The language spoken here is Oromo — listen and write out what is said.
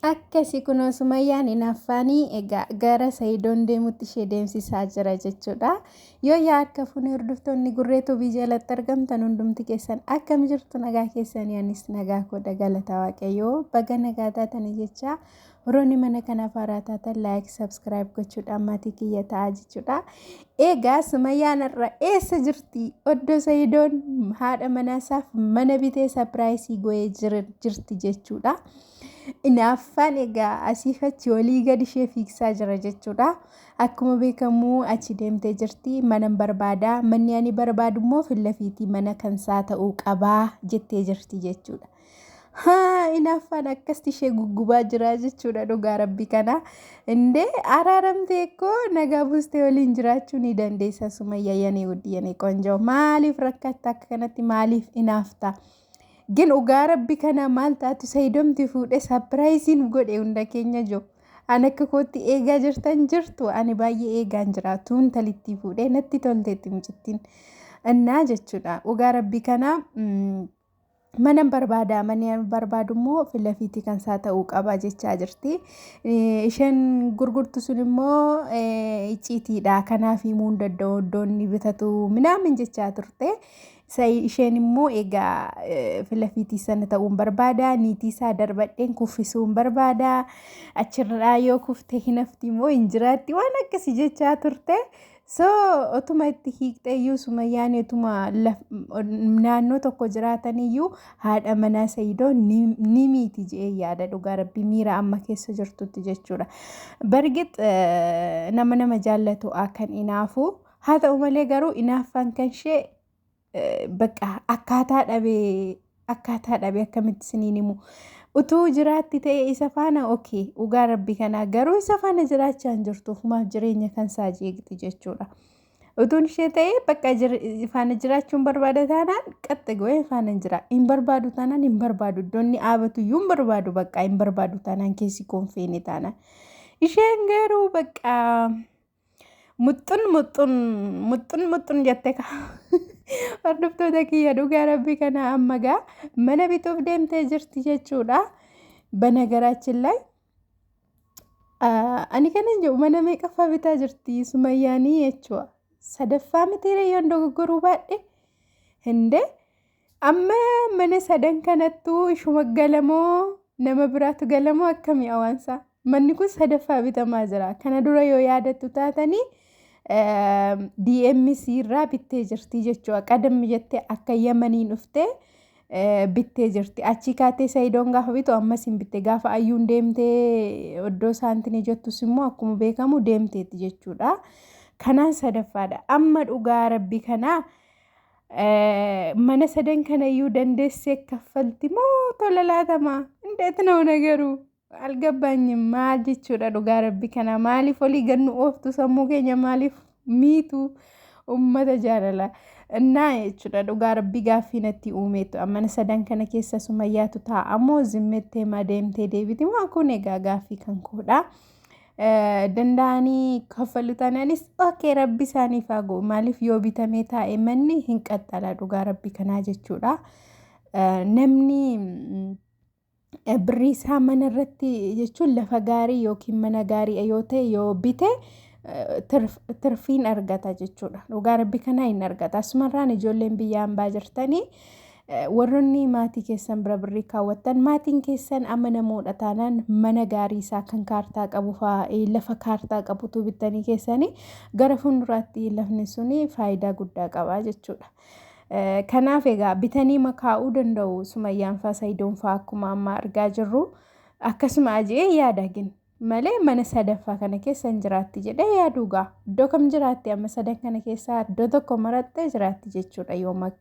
Akkasi kunoo Sumayyaan inaaffaanii egaa gara Sayidoon deemutti ishee deemsisaa jira jechuudha. Yoo yaa akka fuunee hordoftoonni gurree tubii jalatti argamtan hundumti keessan akkam jirtu nagaa keessanii anis nagaa koodha galata waaqayyoo baga nagaa taatanii jechaa Rooni mana kanaaf haaraa taatan laayik sabskiraayib gochuudhaan maatii kiyya ta'aa jechuudha. Eegaa Sumayyaan har'a eessa jirti? Oddo Sayidoon haadha manaasaaf mana bitee sapiraayisii goyee jirti jechuudha. Inaaffaan egaa asiif achi olii gad ishee fiigsaa jira jechuudha. Akkuma beekamu achi deemtee jirti manan barbaada manni ani barbaadu immoo fillafiitii mana kansaa ta'uu qabaa jettee jirti jechuudha. Haa inaaffaan akkasti ishee guggubaa jiraa jechuudha dhugaa rabbi kana. Indee araaramtee koo nagaa buustee waliin jiraachuu ni dandeessa sumayya yanee wuddi yanee qonjoo. Maaliif rakkatta akka kanatti maaliif inaafta? Gin dhugaa rabbi kana maal taatu sayidomti fuudhe sapiraayiziin godhe hunda keenya jiru. An akka kootti eegaa jirtan jirtu ani baay'ee eegaan jira tuun talittii fuudhe natti tolteetti mucittiin. Innaa jechuudha dhugaa rabbi kana. Manan barbaada manan barbaadu immoo filafiitii kan isaa ta'uu qaba jechaa jirti. Isheen gurgurtu sun immoo icciitiidha kanaaf himuu hin danda'u iddoon ni bitatu minaamin jechaa turte. Isheen immoo egaa filafiitii sana ta'uun barbaada niitii isaa darbadheen kuffisuun barbaada achirraa yoo kufte hinafti immoo hin jiraatti waan akkasii jechaa turte. So otuma itti hiiktee iyyuu sumayyaan otuma laf- naannoo tokko jiraatan iyyuu haadha manaa sayidoo ni ni miiti jedhee yaada dhugaa rabbi miira amma keessa jirtutti jechuudha. Bargit eh, nama nama jaallatu kan inaafu haa ta'u malee garuu inaaffaan kan ishee bakka akkaataa dhabee akkaataa dhabee akkamitti isiniin himu utuu jiraatti ta'e isa faana okee dhugaa rabbi kanaa garuu isa faana jiraachaa hin jirtu ofumaaf jireenya kan isaa jeeqxi jechuudha. Utuun ishee ta'e bakka faana jiraachuun barbaada taanaan qaxxe go'ee faana hin jira. Hin barbaadu taanaan hin barbaadu. Iddoonni dhaabatu iyyuu hin barbaadu bakka hin barbaadu taanaan keessi koon feene taanaan. Isheen garuu bakka Muxxun muxxun muxxun muxxun jette ka. Hordoftoota kiyya dhugaa rabbii kana amma gaa mana bituuf deemtee jirti jechuudha. Banagaraachin laay. Ani kanan jedhu mana meeqaffaa bitaa jirti sumayyaanii jechuudha. Sadaffaa mitiiree yoon dogoggoruu baadhe hindee. Amma mana sadan kanattuu ishuma galamoo nama biraatu galamoo akkamii awaansaa. Manni kun sadaffaa bitamaa jira. Kana dura yoo yaadattu taatanii DMC irraa bittee jirti jechuudha. Qadammi jettee akka yamanii dhuftee bittee jirti. Achii kaatee Sayidoon gaafa bitu ammas hin bitte. Gaafa ayyuun deemtee oddoo saantinii jettus immoo akkuma beekamu deemteetti jechuudha. Kanaan sadaffaadha. Amma dhugaa rabbi kanaa. mana sadan kanayyuu dandeessee kaffalti moo tola laatama indeet noo nagaruu algabbaanyi maal jechuudha dhugaa rabbi kana maaliif olii gannu ooftu sammuu keenya maaliif miitu ummata jaalala innaa jechuudha dhugaa rabbi gaaffii natti uumeetu mana sadan kana keessa sumayyaatu taa'amoo zimmettee maa deemtee deebiti moo kun egaa gaaffii kan koodhaa. danda'anii kaffalu taanaanis ookee rabbi isaaniif haa ga'u maaliif yoo bitamee taa'e manni hin qaxxala dhugaa rabbi kanaa jechuudha namni birrii isaa mana irratti jechuun lafa gaarii yookiin mana gaarii yoo ta'e yoo bite tirfiin argata jechuudha dhugaa rabbi kanaa hin argata asumarraan ijoolleen biyya hambaa jirtanii Warroonni maatii keessan bira birrii kaawwattan maatiin keessan amanamoodha taanaan mana gaarii isaa kan kaartaa qabu fa'aa eh, lafa kaartaa qabutu bittanii keessanii gara fuulduraatti lafni suni faayidaa guddaa qaba jechuudha. Eh, Kanaaf egaa bitanii makaa'uu danda'u sumayyaan fa'aa sayidoon fa'aa akkuma amma argaa jirru akkasuma ajee yaada gin malee mana sadaffaa kana keessa hin jiraatti jedhee yaaduu gaa iddoo kam jiraatti amma sadan kana keessaa iddoo tokko marattee jiraatti jechuudha yoo mak-